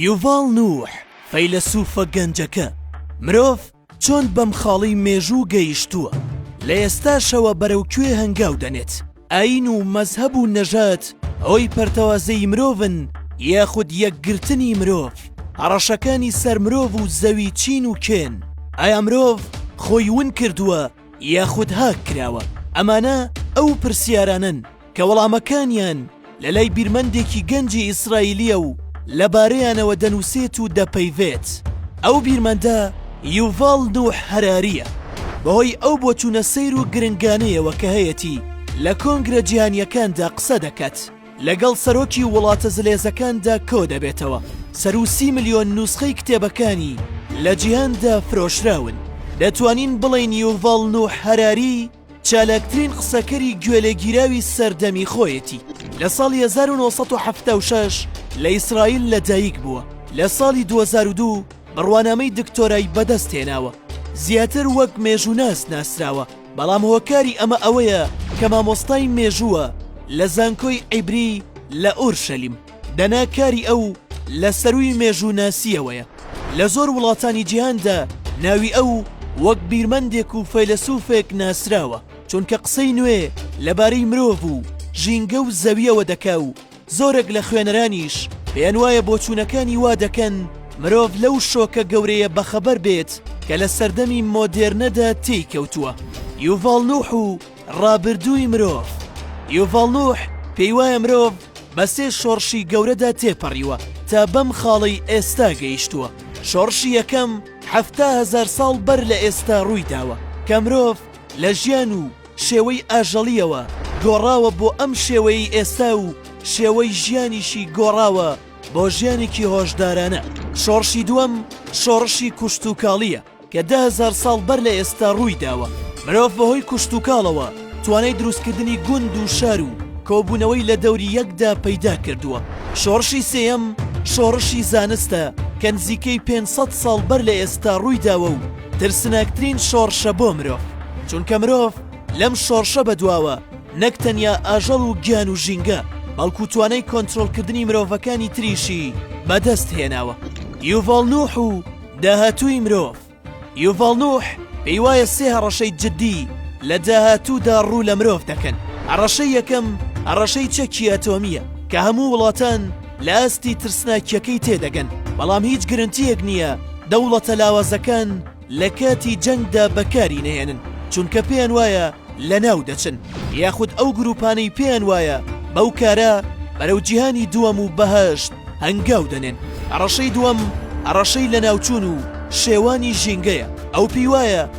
یوڤاڵ نوح، فەیلەسوفە گەنجەکە، مرۆڤ چۆن بەم خاڵی مێژوو گەیشتووە، لە ئێستاشەوە بەرەو کوێ هەنگاو دەنێت، ئایین و مەزهەب و نەژاد هۆی پەرتەوازەیی مرۆڤن یاخود یەکگرتنی مرۆڤ، هەڕەشەکانی سەر مرۆڤ و زەوی چین و کێن، ئایا مرۆڤ خۆی ون کردووە، یاخود هاک کراوە؟ ئەمانە ئەو پرسیارانەن کە وەڵامەکانیان لە لای بیرمەندێکی گەنجی ئیسرائیلییە و لەبارەیانەوە دەنووسێت و دەپەیڤێت. ئەو بیرمەندە یوڤاڵ نوح هەرارییە. بەهۆی ئەو بۆچوونە سەیر و گرنگانەیەوە کە هەیەتی، لە کۆنگرە جیهانییەکاندا قسە دەکات. لەگەڵ سەرۆکی وڵاتە زلێزەکاندا کۆدەبێتەوە، سەروو سی ملیۆن نوسخەی کتێبەکانی لە جیهاندا فرۆشراون. دەتوانین بڵێین یوڤاڵ نوح هەراری چالاکترین قسەکەری گوێلێگیراوی سەردەمی خۆیەتی. لە ساڵی هەزار و نۆ سەد و حەفتا و شەش لە ئیسرائیل لەدایک بووە، لە ساڵی دوو هەزار و دوو بڕوانامەی دکتۆرای بەدەستهێناوە، زیاتر وەک مێژووناس ناسراوە. بەڵام هۆکاری ئەمە ئەوەیە کە مامۆستای مێژووە لە زانکۆی عیبری لە ئۆرشەلیم، دەنا کاری ئەو لە سەرووی مێژووناسییەوەیە. لە زۆر وڵاتانی جیهاندا ناوی ئەو وەک بیرمەندێک و فەیلەسووفێک ناسراوە، چونکە قسەی نوێ لەبارەی مرۆڤ و ژینگە و زەوییەوە دەکا و، زۆرێک لە خوێنەرانیش پێیانوایە بۆچوونەکانی وا دەکەن مرۆڤ لەو شۆکە گەورەیە بەخەبەر بێت کە لە سەردەمی مۆدێرنەدا تێی کەوتووە. یوڤاڵ نوح و ڕابردووی مرۆڤ یوڤاڵ نوح پێیوایە مرۆڤ بە سێ شۆڕشی گەورەدا تێپەڕیوە تا بەم خاڵەی ئێستا گەیشتووە، شۆڕشی یەکەم حەفتا هەزار ساڵ بەر لە ئێستا ڕوویداوە کە مرۆڤ لە ژیان و شێوەی ئاژەڵییەوە گۆڕاوە بۆ ئەم شێوەیەی ئێستا و شێوەی ژیانیشی گۆڕاوە بۆ ژیانێکی هۆشدارانە. شۆڕشی دووەم شۆڕشی کوشتوکاڵییە کە دە هەزار ساڵ بەر لە ئێستا ڕووی داوە. مرۆڤ بەهۆی کوشتوکاڵەوە توانای دروستکردنی گوند و شار و کۆبوونەوەی لە دەوری یەکدا پەیدا کردووە. شۆڕشی سێیەم شۆڕشی زانستە کە نزیکەی پێنج سەد ساڵ بەر لە ئێستا ڕووی داوە و، ترسناکترین شۆڕشە بۆ مرۆڤ، چونکە مرۆڤ لەم شۆڕشە بەدواوە نەک تەنیا ئاژەڵ و گیان و ژینگە، بەڵکو توانای کۆنترۆڵکردنی مرۆڤەکانی تریشی بەدەست هێناوە. یوڤاڵ نوح و داهاتووی مرۆڤ، یوڤاڵ نوح پێی وایە سێ هەڕەشەی جددی لە داهاتوودا ڕوو لە مرۆڤ دەکەن، هەڕەشەی یەکەم هەڕەشەی چەکی ئەتۆمییە کە هەموو وڵاتان، لە ئاستی ترسناکیەکەی تێدەگەن، بەڵام هیچ گرنتیەک نیە دەوڵەتە لاوازەکان لە کاتی جەنگدا بەکاری نەهێنن، چونکە پێیان وایە لەناو دەچن، یاخود ئەو گروپانەی پێیان وایە بەو کارە بەرەو جیهانی دووەم و بەهەشت هەنگاو دەنێن. هەڕەشەی دووەم هەڕەشەی لەناوچوون و شێوانی ژینگەیە، ئەو پێی وایە،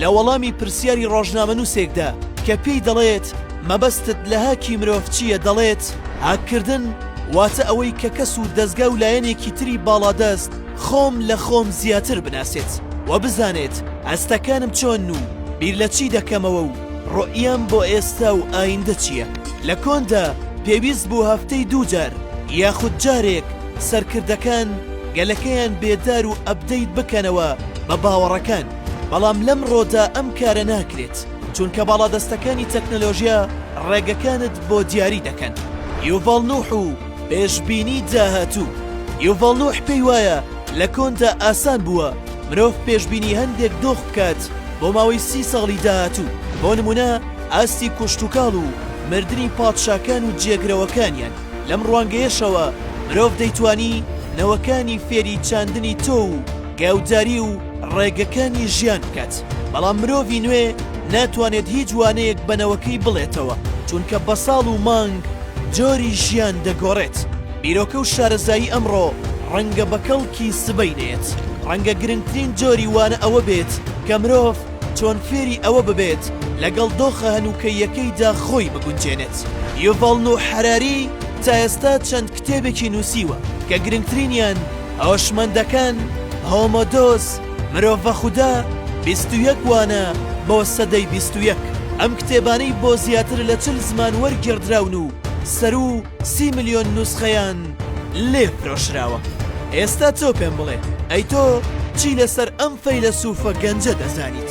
لە وەڵامی پرسیاری ڕۆژنامەنووسێکدا کە پێی دەڵێت مەبەستت لە هاکی مرۆڤ چییە دەڵێت هاککردن واتە ئەوەی کە کەس و دەزگا و لایەنێکی تری باڵادەست خۆم لە خۆم زیاتر بناسێت و بزانێت هەستەکانم چۆن و بیر لە چی دەکەمەوە و ڕۆئیەم بۆ ئێستا و ئایندە چییە لە کۆندا پێویست بوو هەفتەی دووجار یاخود جارێک سەرکردەکان گەلەکەیان بێدار و ئەبدەیت بکەنەوە بە باوەڕەکان. بەڵام لەمڕۆدا ئەم کارە ناکرێت، چونکە باڵادەستەکانی تەکنەلۆژیا ڕێگەکانت بۆ دیاری دەکەن. یوڤاڵ نوح و پێشبینی داهاتوو. یوڤاڵ نوح پێی وایە لە کۆندا ئاسان بووە مرۆڤ پێشبینی هەندێک دۆخ بکات بۆ ماوەی سی ساڵی داهاتوو، بۆ نموونە ئاستی کوشتوکاڵ و مردنی پادشاکان و جێگرەوەکانیان. لەم ڕوانگەیەشەوە مرۆڤ دەیتوانی نەوەکانی فێری چاندنی تۆو و گاوداری و ڕێگەکانی ژیان بکات، بەڵام مرۆڤی نوێ ناتوانێت هیچ وانەیەک بە نەوەکەی بڵێتەوە، چونکە بە ساڵ و مانگ جۆری ژیان دەگۆڕێت. بیرۆکە و شارەزایی ئەمڕۆ ڕەنگە بە کەڵکی سبەی نەیەت. ڕەنگە گرنگترین جۆری وانە ئەوە بێت کە مرۆڤ چۆن فێری ئەوە ببێت لەگەڵ دۆخە هەنووکەییەکەیدا خۆی بگونجێنێت. یوڤاڵ نوح حەراری تا ئێستا چەند کتێبێکی نووسیوە کە گرنگترینیان، هۆشمەندەکان، هۆمۆدۆس، مرۆڤە خودا، بیست و یەک وانە بۆ سەدەی بیست و یەک، ئەم کتێبانەی بۆ زیاتر لە چل زمان وەرگێڕدراون و سەروو سی ملیۆن نوسخەیان لێ فرۆشراوە. ئێستا تۆ پێم بڵێ، ئەی تۆ چی لەسەر ئەم فەیلەسووفە گەنجە دەزانیت؟